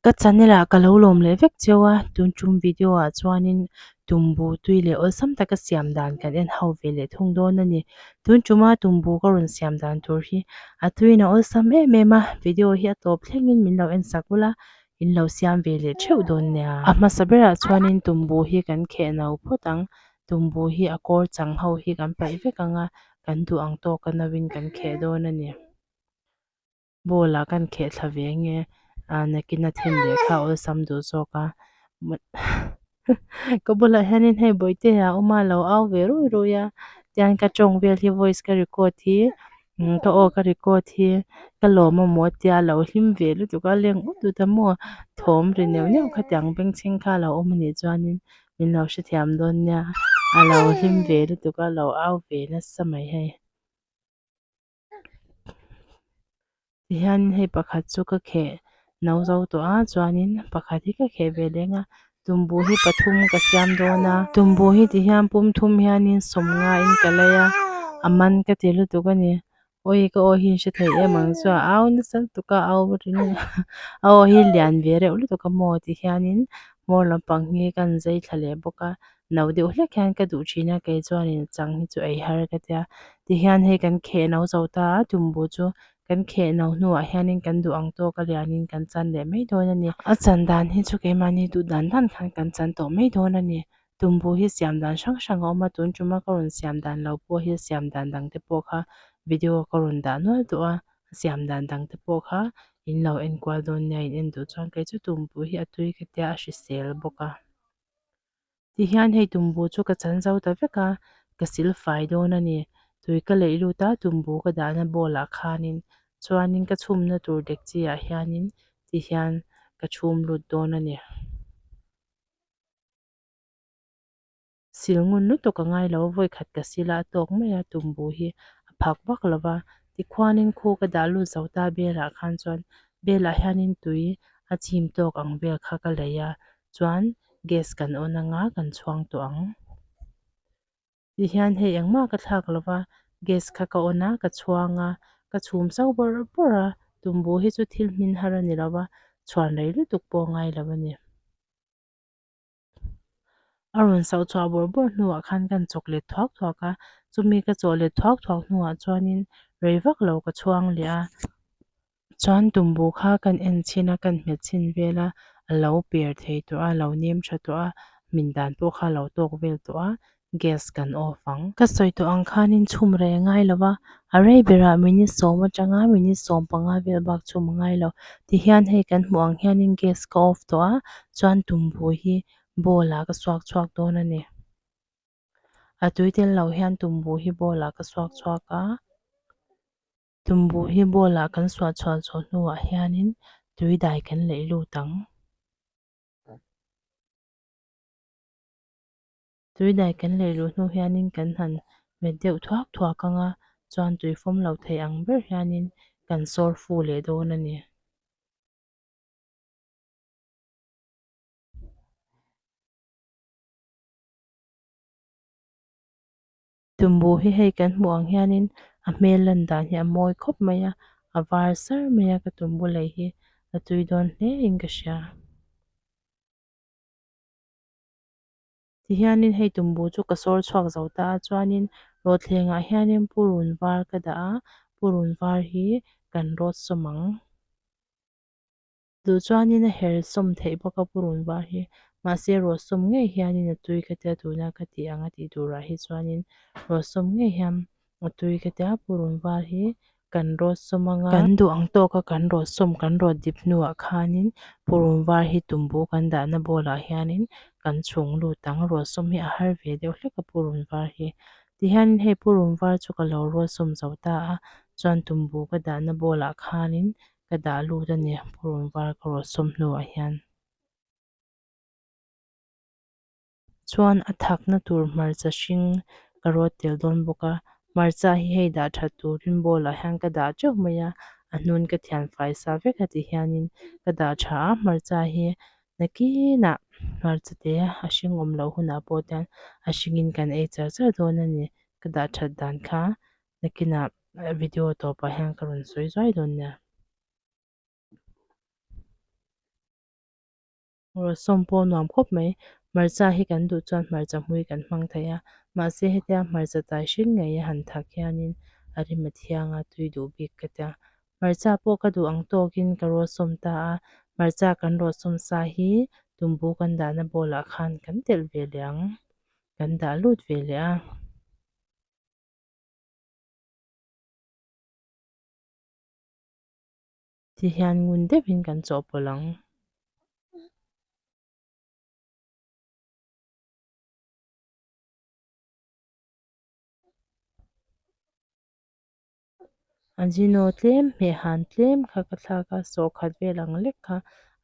Ka channel ah ka lo lawm leh vek cheu a tun tum video ah chuanin tumbutui leh awlsam taka siam dan kan en ho ve leh thung dawn a ni tun tuma tumbu ka rawn siam dan tur hi a tuiin a awlsam em em a video hi a tawp thlengin min lo en sak ulh a. in lo siam ve leh theuh dawn nia. A hmasa berah chuanin Tumbu hi kan kheh no phawt ang, Tumbu hi a kawr chang ho hi kan paih vek ang a, kan duh ang tawk a no in kan kheh dawn a ni. Ball ah kan kheh thla ve nge, ahh nakina then leh kha awlsam duh zawk a. ka bulah hianin hei bawihte ah a awm a a lo au ve ruih ruih a tian ka tawng vel hi voice ka record hi umm ka aw ka record hi ka lawm a maw tia a lo hlim ve lutuk a leng utut a maw thawm ri neuh neuh khatiang ang bengchhing kha a lo awm anih chuanin min lo hrethiam dawn nia a lo hlim ve lutuk a a lo au ve nasa mai hei. Tihian hei pakhat chu ka kheh no zo tawh a chuanin pakhat hi ka kheh ve leng a tumbu hi pathum ka siam dawn a tumbu hi tihian pumthum hianin sawm ngaiin ka lei a a man ka ti lutuk a ni awi ka aw hian hre theih em ang chuan au nasa lutuk a au aw hi lian ve reuh lutuk a maw tihianin hmawr lampang hi ka han zai thla leh bawk a. no deuh hlek hian ka duh thin a, kei chuanin chang hi chu ei har ka ti a, tihian hei kan kheh no zo ta a Tumbu chu kan kheh no hnuah hianin kan duh ang tawk a lianin kan chan leh mai dawn a ni. A chan dan hi chu keimahni duh dan dan khan kan chan tawh mai dawn a ni. Tumbu hi siam dan hrang hrang a awm a, tun tuma ka rawn siam dan lo pawh hi a siam dan dang te pawh kha video ka rawn dah nual tawh a, a siam dan dang te pawh kha in lo enkual dawn nia, in en duh chuan kei chu Tumbu hi a tui ka tia a hrisel bawk a. Tihian hei tumbu chu ka chan zo ta vek a, ka sil fai dawn a ni. Tui ka leih lut a, tumbu ka dahna bowl ah khanin chuanin ka chhumna tur dekchi ah hianin tihian ka chhum lut dawn a ni. Sil ngun lutuk a ngai lo, vawi khat ka sil a, a tawk mai a tumbu hi a phak vak lo va. Tikhuanin khu ka dah lut zo ta belah khan chuan belah hianin tui a chim tawk ang vel kha ka lei a, chuan gas kan on anga kan chhuang tawh ang. Ti hian hei engmah ka thlak lo va, gas kha ka on a ka chhuang a, ka chhum zau bawr bawr a, tumbu hi chu thil hmin har a ni lo va, chhuan rei lutuk pawh a ngai lo a ni. A rawn sauh chhuah bawr bawr hnuah khan ka han chawk let thuak thuak a, chumi ka chawk let thuak thuak hnuah chuanin rei vak lo ka chhuang leh a. Chuan Tumbu kha kan en chin a, kan hmet chin vel a, a lo per thei tawh a, a lo nem tha tawh a, min dan pawh kha a lo tawk vel tawh a, gas kan off ang. Ka sawi tawh ang khanin chhum rei a ngai lo va, a rei berah minute sawm atang a, minute sawm panga vel bak chhum a ngai lo. Tihian hei kan hmuh ang hianin gas ka off tawh a, chuan Tumbu hi bowl ah ka suak chhuak dawn a ni. A tui tel lo hian Tumbu hi bowl ah ka suak chhuak a. Tumbuh hi ball ah kan suah chhuah zawh hnu ah hian in tui dai kan laih lut ang. Tui dai kan laih lut hnu hian in kan han met deuh thuak thuak ang a, chuan tui fawm lo thei ang ber hian in kan sawr fu leh dawn a ni. Tumbu hi hei kan hmuh ang hianin a hmel lan dan hi a mawi khawp mai a, a var sar mai a ka tumbu lei hi a tui dawn hle in ka hria. Tihianin hei tumbu chu ka sawr chhuak zo ta a chuanin rawthlengah hianin purun var ka dah a, purun var hi kan rawt sawm ang. Duh chuanin a her sawm theih bawk a purun var hi, mahse ruah sawm ngei hianin a tui ka tia tuna ka tih ang a tih turah hi chuanin ruah sawm ngei hian a tui ka tia a purun var hi kan rawt sawm ang a. Kan duh ang tawk a kan rawt sawm kan rawt dip hnuah khanin purun var hi tumbu kan dahna bawlah hianin kan chhung lut ang, ruah sawm hi a har ve deuh hlek a purun var hi. Tihianin hei purun var chu ka lo ruah sawm zo ta a, chuan tumbu ka dahna bawlah khanin ka dah lut a ni, pawrawn var ka rawh sawm hnuah hian. Chuan a thakna tur hmarcha hring ka rawt tel dawn bawk a, hmarcha hi hei dah that tur rimbawl ah hian ka dah teuh mai a, a hnun ka thian fai sa vek a ti hian in ka dah tha a, hmarcha hi nakin ah hmarcha te a hring awm loh hunah pawh te a hring in kan ei char char dawn a ni, ka dah that dan kha nakinah video tawpah hian ka rawn sawi zuai dawn nia rawh sawm pawh nuam khawp mai hmarcha hi kan duh chuan hmarcha hmui kan hmang theih a mahse hetia hmarcha tai hring ngei a han thak hianin a rim a thiang a tui duh bik ka tia hmarcha pawh ka duh ang tawkin ka rawh sawm ta a hmarcha kan rawh sawm sa hi tumbu kan dahna ball ah khan kan telh ve leh ang kan dah lut ve leh a. Ti hian ngun deuhin kan chawhpawlh ang. A zino tlem hmeh han tlem kha ka thlak a, sawhkhat vel ang lek kha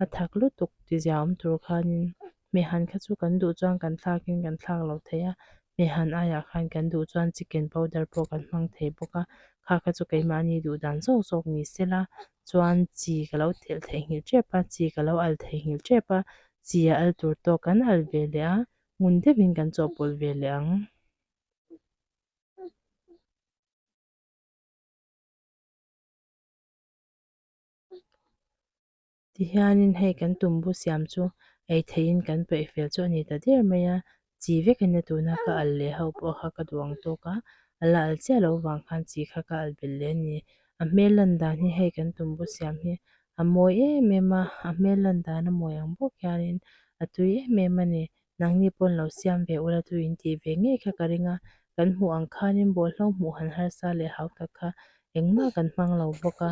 a thak lutuk ti zia awm tur khanin hmeh han kha chu kan duh chuan kan thlakin kan thlak lo thei a, hmeh han aiah khan kan duh chuan chicken powder pawh kan hmang thei bawk a, kha kha chu keimahni duh dan zawk zawk ni se la chuan chi ka lo telh theihngilh tep a, chi ka lo al theihngilh tep a, chi a al tur tawk kan al ve leh a, ngun deuhin kan chawhpawlh ve leh ang. Tihianin hei kan tumbu siam chu ei theihin kan paih fel chu a ni ta der mai a, chi vekin a tuna ka al leh ho pawh kha ka duh ang tawk a, a la al chiah loh vang khan chi kha ka al belh leh a ni. A hmel lan dan hi hei kan tumbu siam hi a mawi em em a, a hmel lan dan a mawi ang bawk hianin a tui em em a ni. Nangni pawn lo siam ve ula chu in tih ve ngei kha ka ring a, kan hmuh ang khanin bawlhhlawm hmuh han harsa leh hau tak kha engmah kan hmang lo bawk a.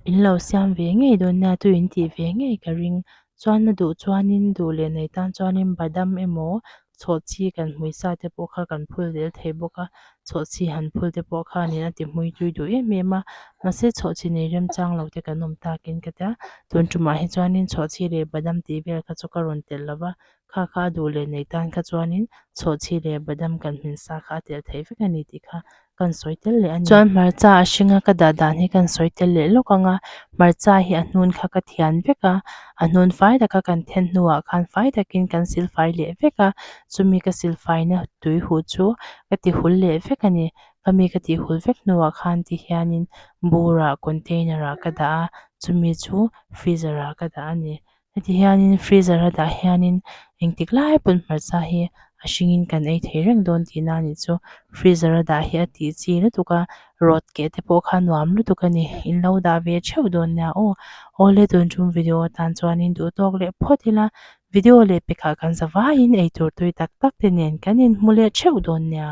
In lo siam ve ngei dawn nia chu in tih ve ngei ka ring. Chuan na duh chuanin duh leh nei tan chuanin badam emaw chhawhchhi kan hmui sa te pawh kha kan phul lel thei bawk a, chhawhchhi han phul te pawh khanin a ti hmui tui duh em em a, mahse chhawhchhi nei remchang lo te kan awm takin ka tia, tuntumah hi chuanin chhawhchhi leh badam tih vel kha chu ka rawn telh lo va, Kha kha a duh leh nei tan kha chuanin chhawhchhi leh badam kan hmin sa kha a telh theih vek a ni tih kha kan sawi tel leh a ni. Chuan hmarcha a hringa ka dah dan hi kan sawi tel leh lawk ang a, hmarcha hi a hnun kha ka thian vek a, a hnun fai tak a kan then hnuah khan fai takin kan silfai leh vek a, chumi ka silfaina tui huh chu ka ti hul leh vek a ni. Khami ka ti hul vek hnuah khan ti hianin bur ah container ah ka dah a, chumi chu freezer ah ka dah a ni. Heti hianin freezer a dah hianin engtik lai pawn hmarcha hi a hringin kan ei thei reng dawn tihna a nih chu freezer a dah hi a tih chi lutuk a rawt keh te pawh kha nuam lutuk a ni in lo dah ve theuh dawn nia aw awle tun chung video atan chuanin duh tawk leh phawt ila video leh pekhah kan za vaiin eitur tui tak tak te nen kan inhmu leh theuh dawn nia.